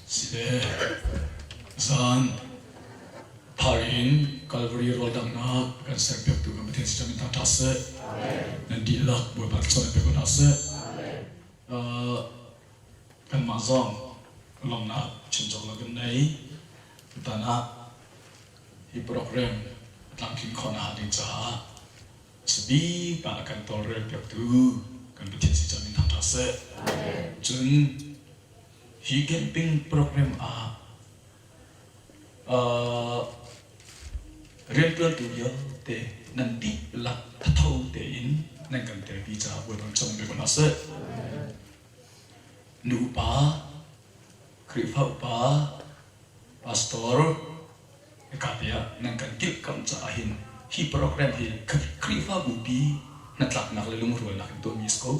Sile zan thar in Calvary rawldanghnak kan serpiak tu kan Pathian si ṭamin hna ṭha seh. Nan dihlak Bawipa chan pek hna seh. Kanmah zong lawmnak chinchok lo kan nei. Tutan ah hi program tlamtling khawhnak ding caah Chabik ah kan tawlrel piaktu kan Pathian si cu min thang hna seh. Cun hi camping program ah uh, rianṭuantu vialte nan dihlak thatho tein nan kan telpi caah buaiban cang bik ko hna seh. Nu upa, Khrihfaupa, pastor, hika te ah nan kan dirhkamh caah hin hi program hi Khrihfa bupi hnatlaknak le lungrualnak in tuahmi a si ko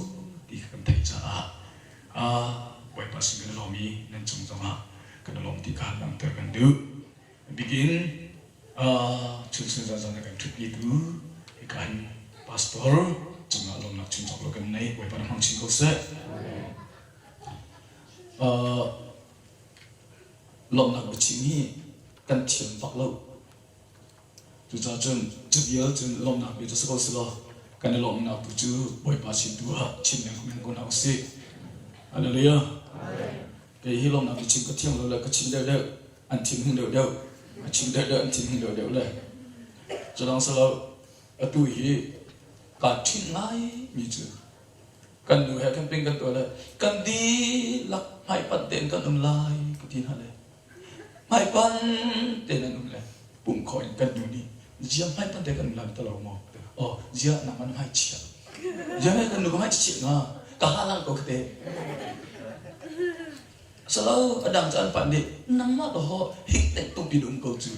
ti kan theih caah Bawipa sin kan i lawm i nan cung zongah kan i lawm ti ka langhter kan duh. Bikin chunsun zanzan a kan ṭhutnitu hika hin pastor cungah lawmnak chin cawk lo kan nei. Bawipa na hmang chin ko seh. lawmhnak biachim hi kan thiam bak lo. Cucaah cun cu vial cun lawmhnak bia cu si ko selaw kan i lawmhnak tu cu Bawipa sin tu ah chim ding men ko hna usih. Hallelujah. Kei hi lawmhnak biachim ka thiam lo le ka chim deuhdeuh an thin hung deuhdeuh a chim deuhdeuh an thin hung deuhdeuh le cu dang selaw atu hi kaa ṭhinh ngai mi cu kan nu he khan ping kan tuah lai kan dihlak hmaipanh tein kan um lai ka ti hna le hmaipanh tein an um le pum kho in kan nu nih zia hmaipanh tein kan um lai ta lo maw oh zia nang an hmai chia zia he kan nu ka hmai chia nga ka halang ko ka te Salo, a dang cu an panh nih, nangmah dawh hik naih tuk in um ko cu.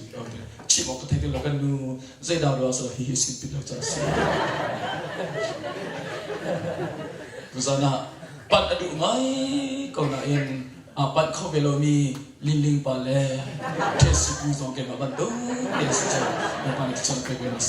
Chim awk ka thei ti lo kan nu, zeidah ruang salo hihi a sin ti lo caah a si. Tuzan ah panh a duh ngai ko nain aa panh kho ve lomi linling pa le ṭhesi pu zong keimah bantuk ti a si cang. Kan pa nih cun a thei ve mas.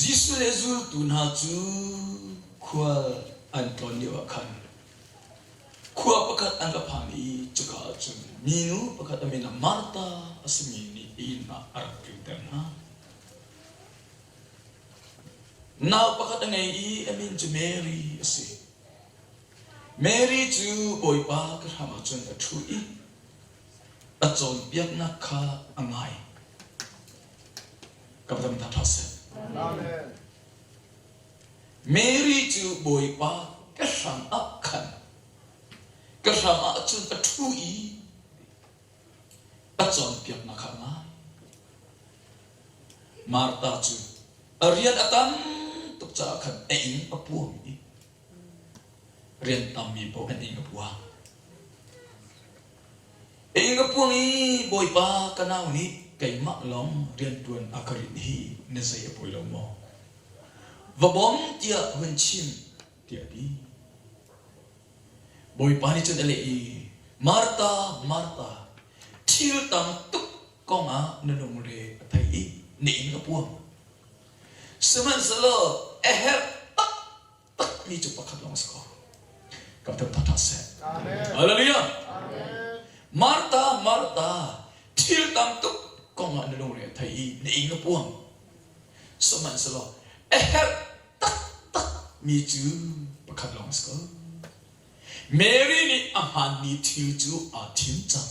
Jesuh le zultu hna cu khual an tlawn lioah khan khua pakhat an ra phan i cuka ah cun minu pakhat a min ah Martha a simi nih ihnak a rak tlinter hna. Nau pakhat a ngei i a min cu Mary a si. Mary cu Bawipa ka hram ah cun a ṭhu i a cawnpiaknak kha a ngai. Ka va tam ṭha seh. Amen. Mary cu Bawipa ka hram ah khan ka hram ah cun a ṭhu i a cawnpiaknak kha a ngai. Martha cu a rian a tam tuk caah khan a inn a puam i Riantammi paoh kan inn ka puang. Inn ka puang i Bawipa ka nau nih keimah lawng riantuan a ka rinh hi na zei a poi lo maw? Va bawm tiah hun chim tiah a ti. Bawipa nih cun a leh i, Martha, Martha, thil tam tuk kongah na lungre a thei i na inn ka puang. Sihmanhsehlaw a herh taktakmi cu pakhat lawng a si ko. Kan pem thawtha seh. Hallelujah. Martha, Martha, thil tam tuk kongah na lungre a thei i na ing a puang. Sihmanhsehlaw a herh taktakmi cu pakhat lawng a si ko. Mary nih a hmaanmi thil cu aa thim cang.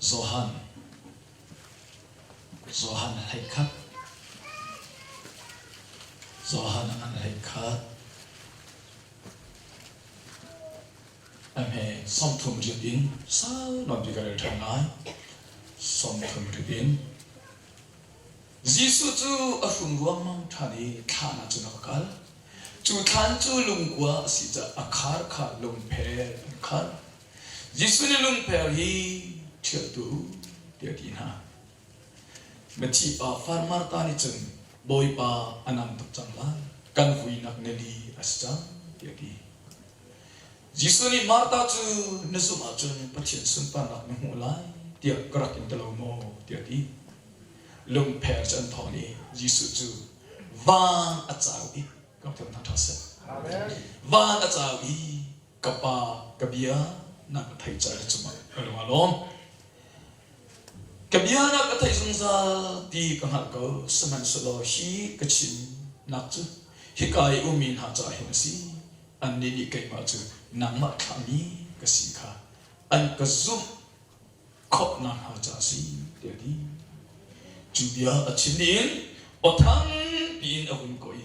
Johan Johan hlei khat Johan a ngan hlei khat ame somthum rip in sal non pi ka rel than lai somthum rip in Jesuh cu a hrum ruangmang than i thlahnak cun a ka kal cu thlan cu lungkua a si caah a khar kha lungphel an khat Jesuh nih lungper hi ṭhialtu tiah a ti hna. Mathi pa far Martha nih cun Bawipa a nam tuk cang lai. Kan vuinak na li a si cang tiah a ti. Jesuh nih Martha cu na zumh ahcun Pathian sunparnak na hmuh lai tiah ka rak in ti lo maw tiah a ti. Lungpher cu an thawng i Jesuh cu van a cau i, ka rak tlun hna ṭha seh. Van a cau i Ka pa, ka bia na ka theih cah le cuma ka lung a lawm. Ka bia na ka theih zungzal ti ka hngalh ko, sihmanhsehlaw hi ka chim nak cu hika i ummi hna caah hin a si. Annih nih keimah cu nangmah thlahmi ka si kha an ka zumh khawhnak hnga caah a si, tiah a ti. Cu bia a chim dih in aw thang piin a hun kuah i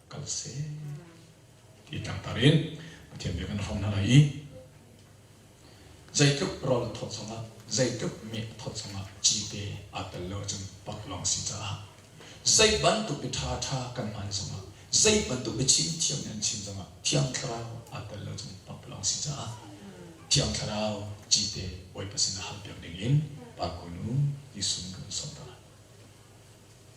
kal seh ti tangtar in Pathian bia kan hom hna lai i zeitluk rawl thawt zongah zeitluk meh thawt zongah cite aa tel lo ahcun pak lawng si caah zei bantuk i ṭha ṭha kan man zongah zei bantuk i chim thiam in an chim zongah thiang thlarau aa tel lo cun pak lawng si caah thiang thlarau cite bawipa sin a hal piak ding in pa kunu Jesuh kan sawmter.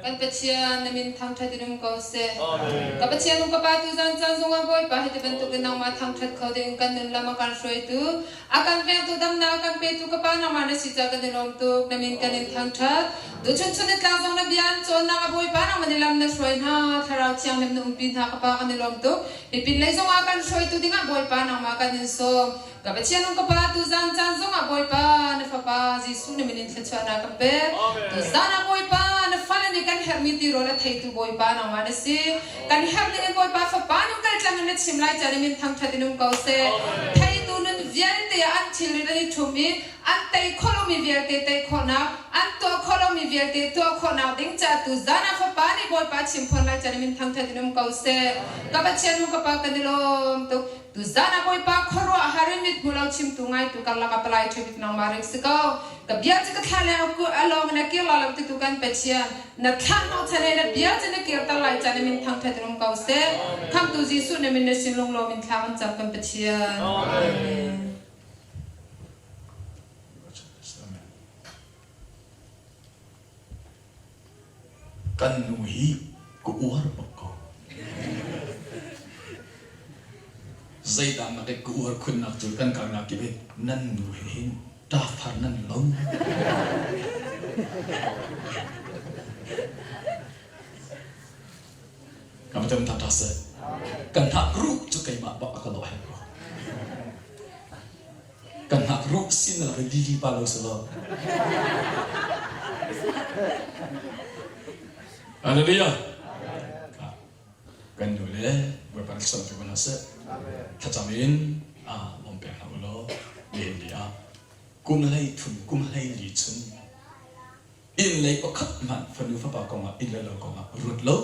Kan Pathian na min thangṭhat in um ko seh. Ka Pathian nu ka pa tuzan caan zongah Bawipa hi ti bantukin nangmah thangṭhat kho dingin kan nun lam a kan hruaitu, a kan vengtu damnak a kan petu ka Pa nangmah na si caah kan i lawm tuk. Na min kan in thangṭhat. Tuchunchun ni tlang zong na bia an cawnnak a Bawipa nangmah nih lam na hruai hna. Thlarau thianghlim na umpi hna ka Pa kan i lawm tuk. Hi pinlei zongah a kan hruaitu dingah Bawipa nangmah kan in sawm. Ka Pathiannu ka Pa, tuzan caan zongah Bawipa na Fapa Jesuh na min in thluachuahnak kan pek. Tuzan ah Bawipa na fale nih kan herhmi tirawl a theitu Bawipa nangmah na si. Kan herh ning in Bawipa Fapa nun kal tlangin na chim lai caan i min thangṭhat in um ko seh. Theitu nun vialte ah an thilrit an i ṭhum i an tei khawh lomi vialte tei khawhnak, an tuah khawh lomi vialte tuah khawhnak ding caah tuzan ah Fapa nih Bawipa a chim fawn lai caan i min thangṭhat in um ko seh. Ka Pathiannu ka Pa kan i lawm tuk. Tuzaan ah Bawipa khuaruahhar in mit hmu lo chimtu ngaitu karlak ah palai ṭha bik nangmah rik si ko. Ka bia cu ka thlah le a lawng na kir lo lo ti tu kan pe chia. Na thlah hnawh chan he na bia cu na kirter lai chan na min thangṭhat rum ko seh. Khamhtu Jesuh na min na sin lunglawm in thla kan cam kan pe chia. Amen. Kan nu hi ka uar bak ko. Zeidah na ka uar khunnak cu kan kar nak kibet nan nu he hin ta thar nan lo. Kama tem tha ta se. Kan thak ruh cu keimah bak a ka lo he ko. kan ngakruh sinah rili pa lo si lo. Hallelujah. Kan nu le Bawipa rak sam cu hna seh. Thlacam in ah om pek hna u law len li ah kum hlei thun kum hlei li chun inn lei pakhat hmanh fanu fapa kongah inn le lo kongah ruat lo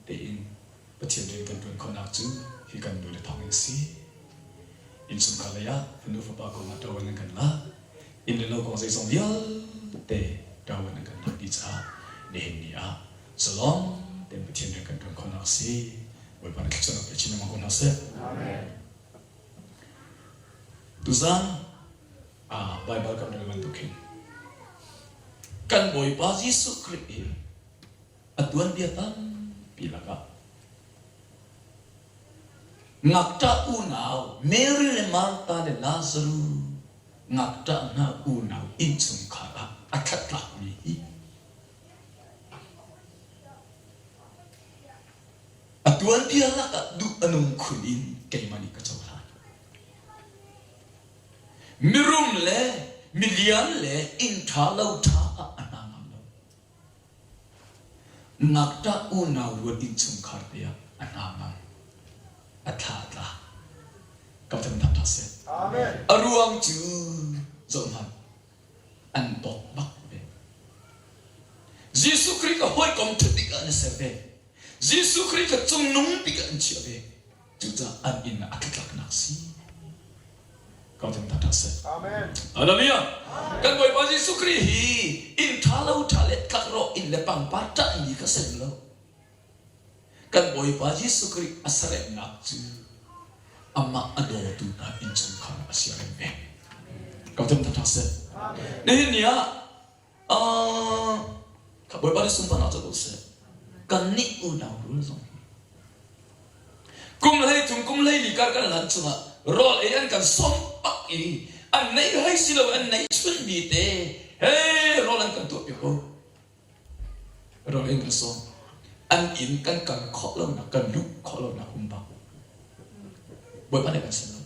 tein Pathian rian kan ṭuan khawhnak cu hi kan nule thawngin a si. Innchungkhar lei ah nu fapa kongah ṭaoan an kan lak. Inn le lo kong zeizong vialte ṭaoan an kan lakpi caah nihin ni ah zalong tein Pathian rian kan ṭuan khawhnak a si. Bawipa na thluachuahnak pe chin lengmang ko hna seh. Tuzaan ah Baibal kan rel bantuk hin kan Bawipa Jesuh Khrih in a tuanbia tampi lakah ngakṭah unau Mary le Martha le Lazaru ngakṭah hna unau innchungkhar ah a ṭhatlakmi hi a tuanbia lakah duh a nung khun in keimah nih ka cohlan mirum le milian le inn ṭha lo ṭha ah a hna ngam lo Ngakṭah unau ruat innchungkhar te ah a hna mang, a thla a tla. Ka van hnap hna seh. A ruang cu zohhmanh, an dawt bak ve. Jesuh Khrih ka hawikom ṭha tikah an ser ve. Jesuh Khrih kha cungnung tikah an chiah ve. Cucaah an inn ah a ṭutlaknak si ko ding that a si. Amen. Hallelujah. Kan Bawipa Jesuh Khrih hi inn ṭha lo ṭha le tlakrawh inn le pangpar ṭahmi ka si rem lo. Kan Bawipa Jesuh Khrih a saremnak cu amah a dawtu hna innchungkhar a si rem ve. Ko ding that a si. Nihin ni ah Ah, Bawipa nih sunparnak cu ko seh. Kannih unau rul zong kum hlei tum kum hlei li kar kan lan chungah rawl ei an kan som pak i an nei hai si lo an nei chun mi te he rawl an kan tuah piak ko rawl ei kan som an inn kan kal khawh lonak kan luh khawh lonak um bak Bawipa nih kan sim lo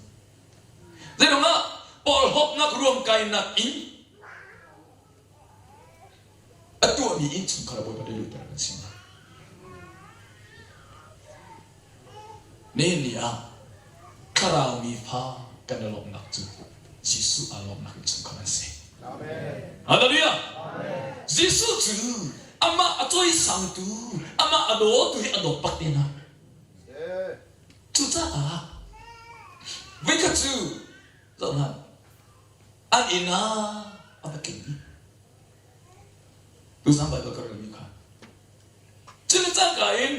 Zeiruangah porhlawtnak ruam kainak in a tuahmi innchungkhar ah Bawipa leluter kan si. Nihin ni ah thlarau mi fa kan i lawmhnak cu Jesuh aa lawmhnak innchungkhar an si. Hallelujah! Jesuh cu amah a cawisangtu, amah a dawtu hi a dawt pat tehna. Cucaah voikhat cu zoh hmanh, an inn ah a va tling i tuchan Baibal ka relmi kha cu ni cangka in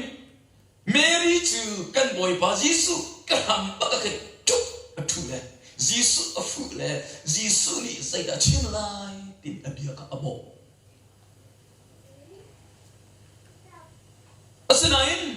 Mary cu kan Bawipa Jesuh ka hram bak a khin ṭup a ṭhu le Jesuh a fuh le Jesuh nih zeidah a chim lai tiin a bia kha a bawh. Asinain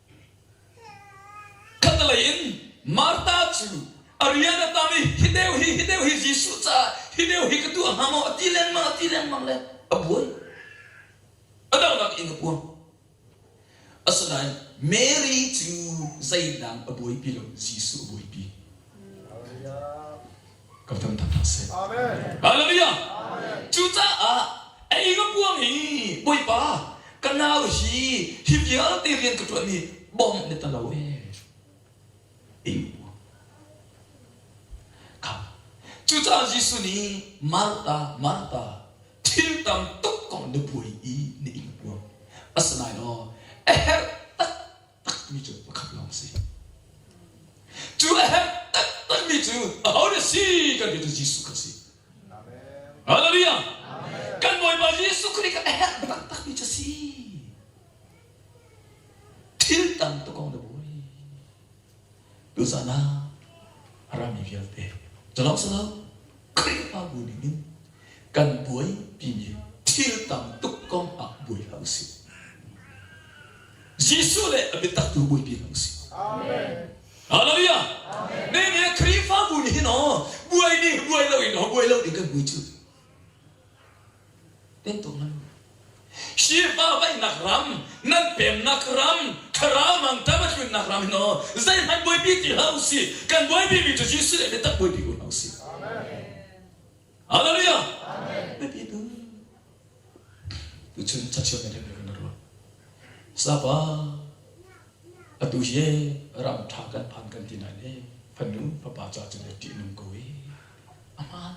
Khatlei in Martha cu a rian a tam i hi deu hi hi deu hi Jesuh caah hi deu hi ka tuah hnga maw a ti lengmang a ti lengmang le a buan a dohnak in a puang asinain Mary cu zeidah a buaipi lo Jesuh a buaipi kan kan tat hna seh. Hallelujah! Cucaah Egapuang i Bawipa ka nau hi hi vialte rian ka ṭuanmi bawm na ta lo ee. Ingu. Kha. Cucaah Jesuh nih Martha, Martha, thil tam tuk kong na buai i na ing puang. Asinain a herh tak takmi cu pakhat lawng a si. Cu a herh taktakmi cu aho na si kan ti cu Jesuh kan si. Hallelujah! Kan Bawipa Jesuh Khrih kan a herh taktakmi cu a si. Thil tang tukong na buai. Tuzan ah a rami vialte culawng si lo Khrihfabu nih hin kan buaipi thil tam tuk kong ah buai hlah usih. Jesuh le a biatak tu buaipi hlah usih. Hallelujah. Nehemiah Khrihfabu nih hin aw buai ni buai lo in aw buai lo ding kan vui cu. Khrihfa vaihnak ram, nan pemnak ram, thlarau mangṭam a tluinnak ram hin aw zeihmanh buaipi ti hlah u si. Kan buaipimi cu Jesuh le biatak buaipi ko hna u si. Hallelujah! Biapi tu. Tuchun cachia kan kan ruah. Sapa, atu hi ram ṭha kan phan kan ti nain e, fanu fapa ca cu le ṭihnung ko i, aman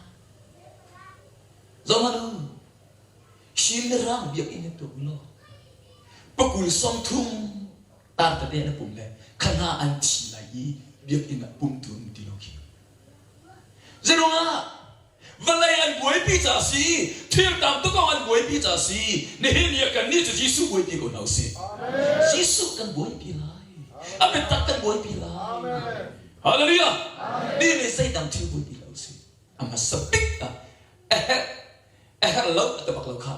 Donald, hrin le rang biakinn na tuk law pakul sawm thum tartate na pum le kha hna an thi lai i biakinn ah pumtu an um ti lo khi. Zeirungah vawlei an buaipi ca si, thil tam tuk kong an buaipi ca si, nihin hi kannih cu Jesuh buaipi ko hna usih. Jesuh kan buaipi lai. A biatak kan buaipi lai. Hallelujah. Mi nih zeidang thil buaipi lo usih. a hmasa bik ah a herh a herh lo a ti bak lo kha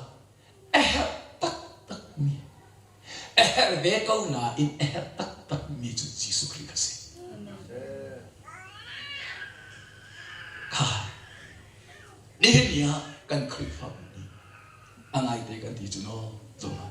a herh taktakmi a herh ve ko nain a herh taktakmi cu Jesuh Khrih ka si kha nihin ni ah kan Khrihfabu nih a ngaite kan ti cu no zong ah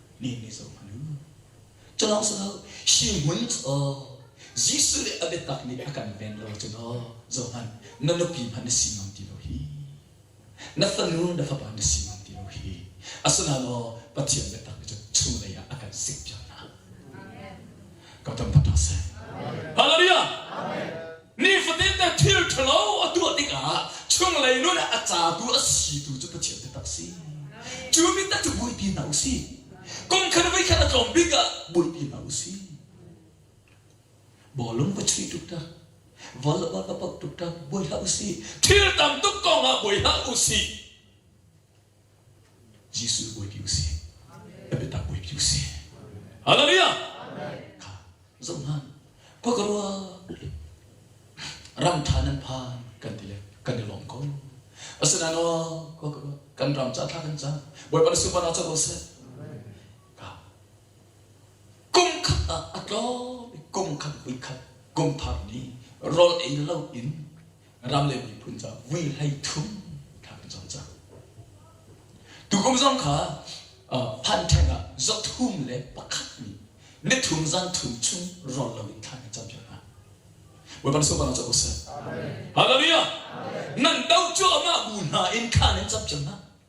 menmi zong a nu. Culawng cu hi hmun cu Jesuh le a biatak nih a kan ven lo cun Johan na nupi hmanh na si ngam ti lo hi na fanu na fapa na si ngam ti lo hi asinain Pathian biatak nih cun chunglei ah a kan sik piak hna. Ka tam pata seh. Hallelujah! Nifatinte thil ṭhalo a tuah tikah chunglei nun ah a catu a situ cu Pathian taktak a si. Cu mit cu buaipi hna u sih. Kum khat voi khat a tlawm bik ah buaipi hna u sih. Bawlung va chuih tuk ta. Val a va poh tuk ta. Buai hlah u sih. Thil tam tuk kong ah buai hlah u sih. Jesuh bawi ti usih. A biatak bawi ti usih. Hallelujah! Kha zoh hlan, khua ka ruat le ram ṭha nan phan kan ti le kan i lawm ko. Asinain aw, khua ka ruat, kan ram ca thla kan cam. Bawipa na supan ah ca ruah seh. Ka kum khat ah a tlawm i kum khat vui khat kum thar ni rawl ei lo in ram le miphun ca vui hlei thum thlak in cang cang tukum zong kha phantheng ah zothum le pakhat nih nithum zan thum chung rol loin thlan in cam hna weban so bang ca usah hallelujah nan do cu amah bu hna in khan in cam hna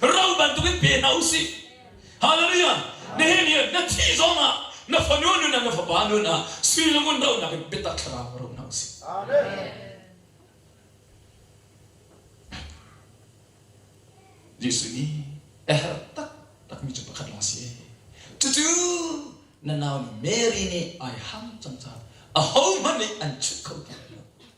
Ro bantukin pe hna u sih. Hallelujah! Nihin hi na thih zongah na fanu nun ah na fapa nun ah sui lungun dohnak in biatak thlarau ro hna u sih. Jesuh nih a herh taktakmi cu pakhat lawng a si. Cucu na nau Mary nih ai ham cang caah ahohmanh nih an chunh kho ti lo.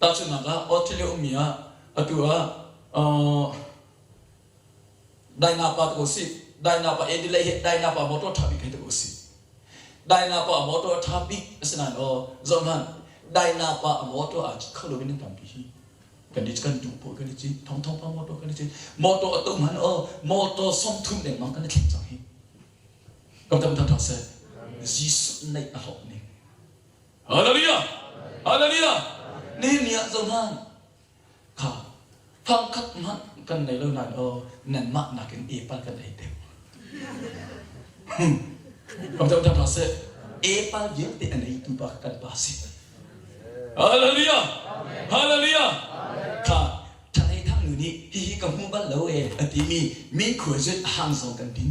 Tahchunhnak ah, Australia ummi ah atu ah daina pa tuk si. Daina pa Adelaide hi daina pa motor tha bik hei tuk si. Daina pa motor tha bik asinain aw zoh hlan daina pa motor a kho lo in nan tampi hi kan i kan duh pawl kan i cin thong thong pa motor kan i cin motor atum han o motor som thum deng mang kan i thleng cang hi kam tam tha tha se Jesus neih a hlok ning Hallelujah! Hallelujah! Nehemiah zohhlan kha fangkhat hmanh kan nei lo nain aw nanmah nakin epa kan ei te Kam tam tam seh epa vialte an eitu pa kan pa si Hallelujah! Hallelujah! Kha ṭhanei thang nu nih hihi ka hmu bal lo e a timi min khual zut a hang zong kan din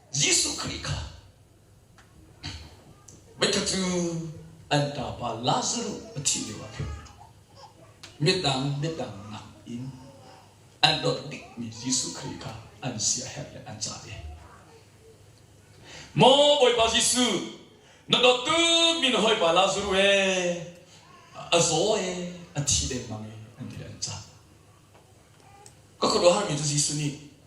Jesuh Khrih kha voikhat cu an ṭapa Lazaruh a thih lioah khin midang midang nakin an dawt bikmi Jesuh Khrih kha an siaherh le an cah i Maw Bawipa Jesuh na dawtu mi na hawipa Lazaruh e a zaw e a thi dengmang e an ti le an cah ka khuaruahharmi cu Jesuh nih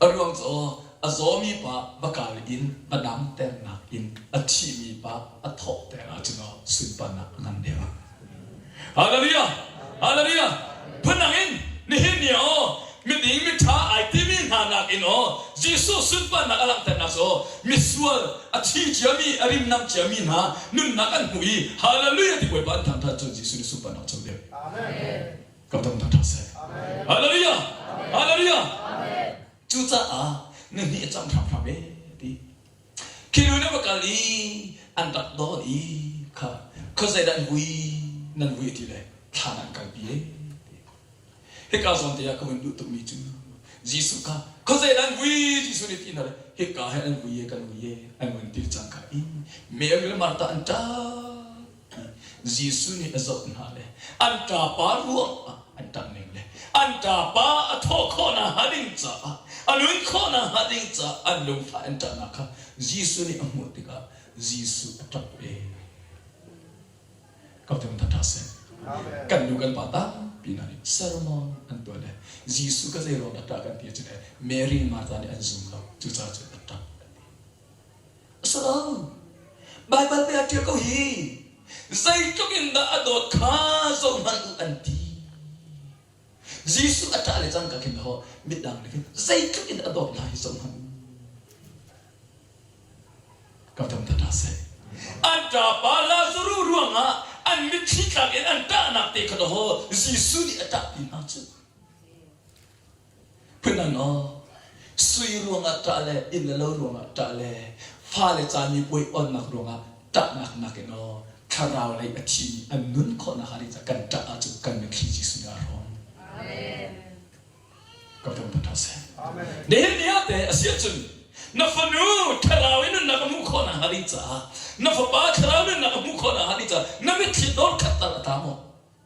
A ruang cu a zawmi pa va kar in va damternak in a thihmi pa a thawhter ahcun sunparnak a ngan deuh. Hallelujah! Hallelujah! Phundang in nihin ni aw miding miṭha ai timi hna nakin aw Jesuh sunparnak a langhternak cu misual a thi ciami a rimnam ciami hna nunnak an hmuh i hallelujah ti puai pa an thangṭhat cun Jesuh nih sunparnak a co deuh. Amen. Ka dam taktak seh. Hallelujah! Hallelujah! Cucaah na nih a cang hramhram e ti. Khi lu na va kal i an rak dol i kha kha zeidah an vui nan vui ti le thlan ah an kalpi e. Hika zawn te ah ka hun duh tukmi cu Jesuh kha kha zeidah an vui Jesuh nih ti hna le hika he an vui e kan vui e an hun tir cang ka in Mary le Martha an ṭap Jesuh nih a zoh hna le an ṭapa ruang ah an ṭang ning le an ṭapa a thawh khawh nakhnga ding caah a luin khawh nakhnga ding caah an lungfah an ṭahnak kha Jesuh nih a hmuh tikah Jesuh a ṭap ve. Ka vung that ṭha seh. Kan nu kan pa tampi hna nih sermon an tuah le Jesuh ka zei ruang dah ṭah kan ti ahcun Mary Martha nih an zum lo. Cucaah cun a ṭap. A si lo. Baibal mei a ṭial ko hi. Zeitluk in dah a dawt kha zohhmanh u an ti. Jesuh a ṭah le cangka khin le hawh midang nih khin zeitluk in a dawt hna hi zohhmanh u. Ka tam tat dah seh. An ṭapa Lazarus ruangah an mitthli thlak in an ṭahnak te kha dawh Jesuh nih a ṭah pi hna cu. Phun-an aw, sui ruangah ṭah le inn le lo ruangah ṭah le fale ca mipuai awnnak ruangah ṭahnak nakin aw thlarau lei a thimi an nun khawhnak hnga ding ca kan ṭah ahcun kan min thli Jesuh nih a rawm. Ka ram put seh. Nihin ni ah te a si ahcun na fanu thlarau i nunnak a hmuh khawh nakhnga ding caah na fapa thlarau nunnak a hmuh khawh nakhnga ding caah na mitthli dor khattal a ta maw?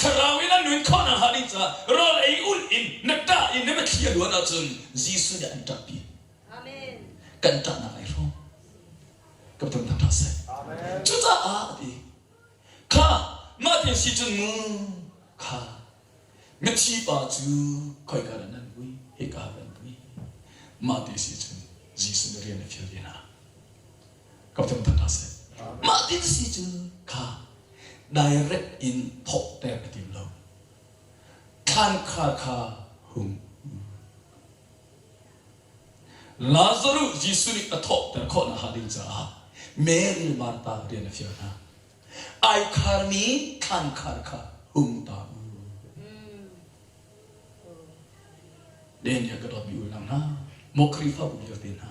Thlarau in an nun khawhnak hnga ding caah rawl ei ulh in na ṭah in na thli a luan ahcun Jesuh nih an ṭahpi. Kan ṭahnak ai hrawm. Ka tum thang ṭha seh. Cucaah a ti. Kha mah ti si cun mu kha mithi pa cu khoika dah nan vui hika ran vui. Mah ti si cun Jesuh nih rian a fial ve hna. ka tlung than hna seh. Mah ti si cu kha direct in thawhter a tim lo. Thlankhar kha hung Lazaruh Jesuh nih a thawhter khawh nakhnga ding caah Mary Martha rian a fial hna. Ai kharmi thlankhar kha hung ta u. Daniel ka dawtmi unau hna, maw Khrihfabu vialte hna,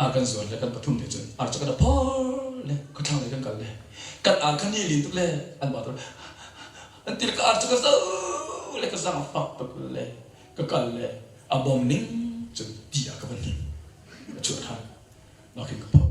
a kan zuan le kan pathum te cun ar cakada phor le khuathlang lei kan kal le kan ar kha ni lin tuk le an ba tuk an til ka ar cu ka zo le ka zang a fak tuk le ka kal le a bom ning cun ti a ka van ning a chuah than nakin ka phawt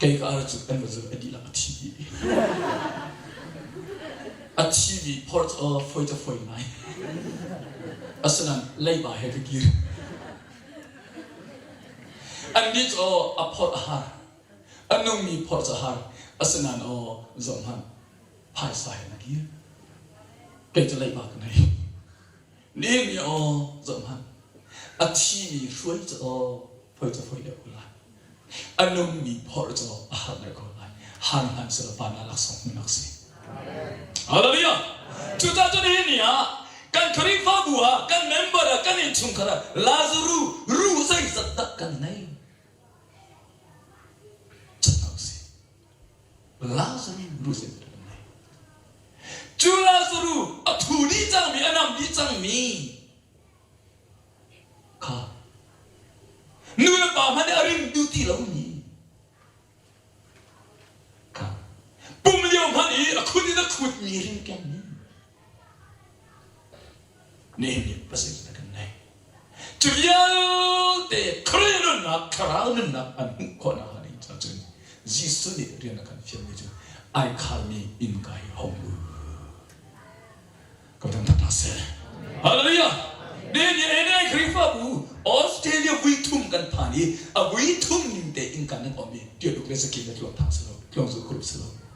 Keikar cu kan va zulh a dihlak a thi dih. A thi mi ports uh, foi ca foi ngai. Asinain leiba he ka kir. Annih cu a phorh a har. A nungmi phorts a har. Asinain aw zoh hmanh, phaisa he na kir. Kei cu leiba ka ngei. Ning i aw, zoh hmanh, a thimi hruai cu aw, phoi cu phoi deuh ko lai, a nungmi phorh cu a har deuh ko lai, han hlan sulaw pa na laksawng hmun lak si. Hallelujah! Cucaah cun hi ni ah kan Khrihfabu ah, kan member ah, kan innchungkhar ah Lazaru ruh zeizat dah kan ngei? Cat ko si. Lazarus in a ngei. Cu Lazaru a thu dih cangmi, a nam dih cangmi kha nu le pa hmanh nih a ring duh ti lomi kha pum lio hmanh i a khut in a khutmi ringkengmi Nehemiah pasal na kan ngei. Cu vialte Khrih nunnak, thlarau nunnak an hmuh khawh nakhnga ning cun Jesuh nih rian a kan fialmi cu ai khalmi inn kai a hung lut. Ka thangthat hna seh. Hallelujah! Nehemiah le Khrihfabu Australia vui thum kan phan i a vui thum ning tein kan nan awm i tialuk le sakin na tluang thang silo, tluang zulh khurup silo.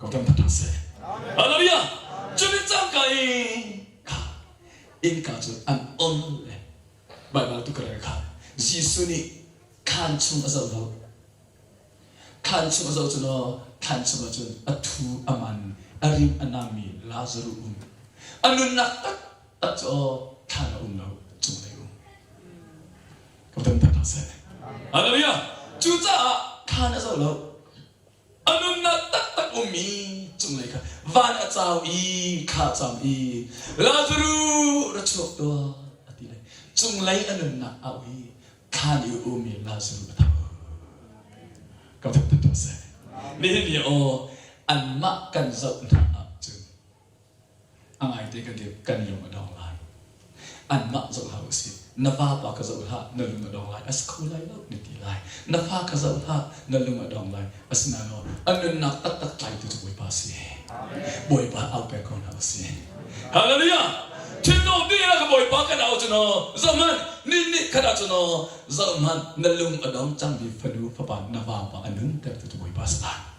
Ka ṭang tuk hna seh. Hallelujah! Cumin cangka i kha innka cu an ol le Baibal tu ka rel kha Jesuh nih thlan chung a zoh lo. Thlan chung a zoh cu law thlan chungah cun a thu a man a rim a nammi Lazaruh um. A nunnak tak a cu aw thlan a um lo, cung lei um. ka ton peng hlah seh. Hallelujah! Cucaah thlan a zo lo. A nunnak taktak ummi cunglei kha van a cau i kha a cam i Lazaru ra chuak tuah a ti le cunglei a nunnak a u i thlan i ummi Lazaru a tho. Ka thok tuah seh. Nihin ni aw anmah kan zoh hna ah cun A ngaite kan lung a dong lai. Anmah zoh hlah u sih. Na vapa ka zoh hlah, na lung a dong lai. A si kho lai lo, na ti lai. Na fa ka zoh hlah, na lung a dong lai. Asinain a nunnak taktak tlaitu cu Bawipa si. Bawipa au pek ko hna u sih. Hallelujah! Thinlung dihlak a Bawipa kan au cu naw, zohhmanh, nih nih khat ah cu naw, zohhmanh, na lung a dong cangmi fanu fapa, na vapa a nuntertu cu Bawipa si lai.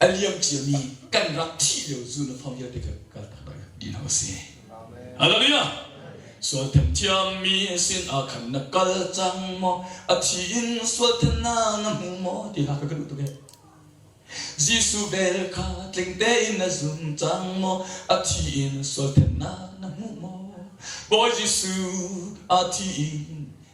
A liam ciami kan rak thih lio Zunafang vialte kan kaltak lai ti lo a si. Hallelujah! Sual thiammi sin ah khan na kal cang maw? A thi in sual thiamnak na hmu maw? ti hla ka duh tuk ee. Jesuh vel kha tling tein na zum cang maw? A thi in sual thiamnak na hmu maw? Bawi Jesuh, a thi in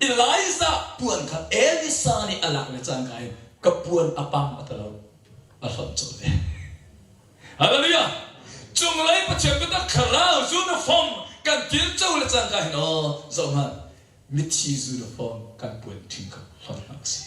Elijah puan kha Elisa nih a lak le cangka in ka puan a pam a ta lo, a hlonh cawlh ve. Hallelujah! Cunglei Pathian biatak thlarau uniform kan tirco le cangka hin aw zohhmanh mithi uniform kan puan hring kha hlonh hna u sih.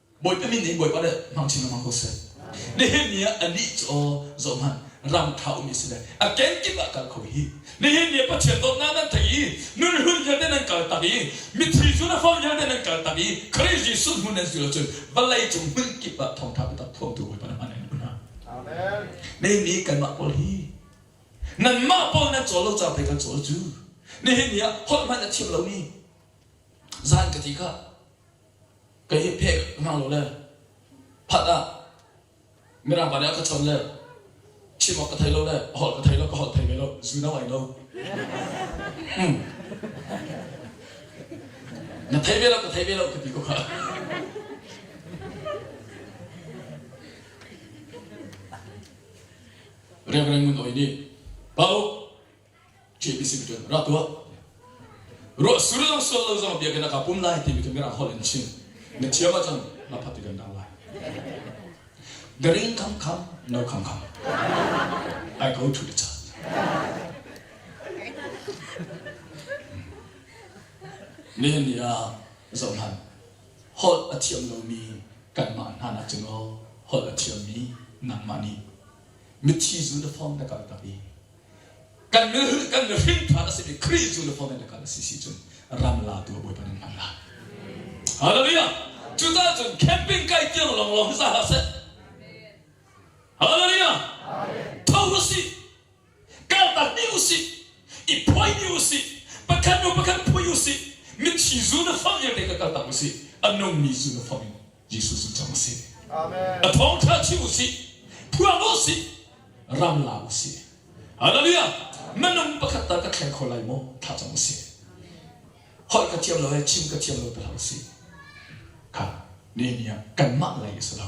Bawipa min nih Bawipa le hmangchin lengmang ko seh. Nihin ni ah anih cu aw zohhmanh ram ṭha ummi si le a kenkip ah kal kho hi nihin ni ah Pathian dawtnak nan tei i nun hlun vialte nan kaltak i mithi zulafam vialte nan kaltak i Khrih Jesuh hmun nan zul ahcun vawlei cung hmun kip ah thawngṭha biatak thuamtu Bawipa na hman in um hna. Amen. Nihin ni kanmah pawl hi nanmah pawl nan cawl lo ca pei kan cawl cu nihin ni ah holh hmanh a thiam lomi zan ka ti kha Ka hi pheh ka hngak lo le phat ah Mirang pa nih a ka chon le chim awk ka thei lo le a holh ka thei lo ka holh thei ve lo zu no ai no. Hmm. Na thei ve lo ka thei ve lo ka ti ko kha. Reverend Ngun Oi nih Pau KBC mi tuan rak tuah ruah sur zong sol lo zong bia kana ka pum lai ti mi ka mirang hol in chim na thiam a cang na phat kan dang lai the ring come come no come come I go to the church nihin ni ah zoh hlan holh a thiam lomi kanmah hna nak cun aw holh a thiammi nangmah nih mithi zu na form na kal tak i kan mihring ṭhat a simi Khrih cu na hawngin na kal a si si cun ram la tu Bawipa nih hman lai. Hallelujah! Cucaah cun camping kai tiang lawnglawng hi sa hlah seh. Hallelujah! Tho usih. Kaltakmi usih. I phuaimi usih. Pakhat nu pakhat phui usih. Mitthi zu na fang vialte ka kaltak usih. A nungmi zu na fang in Jesuh cu cang sih. A thawngṭha chim u sih. Phuang u sih. Ram la u sih. Hallelujah! Minung pakhat tal ka thleng kho lai maw? Thla cam u sih. Holh ka thiam lo le chim ka thiam lo pe hlah u sih. Kha Nehemiah kanmah lei a si lo.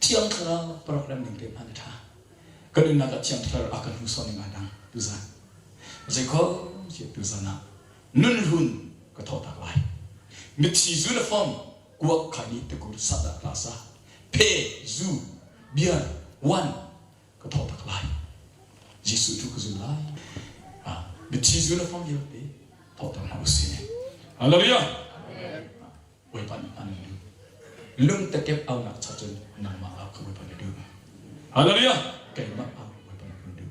Thiang Thlarau program ning te hman a ṭha. Ka nunnak ah Thiang Thlarau a ka hnursawn ning ahdah tuzan zeikho cu tuzan ah nunhlun ka thawhtak lai. Mitthli zu le fom kuak khai nih tikur sahdah klasa phe zu beer one ka thawhtak lai. Jesuh cu ka zul lai. Mitthli zu le fom vialte thawhtak hna usih. Hallelujah. Bawipa nih a nan duh. Lungtekep aunak cha cun nangmah ah ka Bawipa na duh. Hallelujah! Keimah ah Bawipa na duh.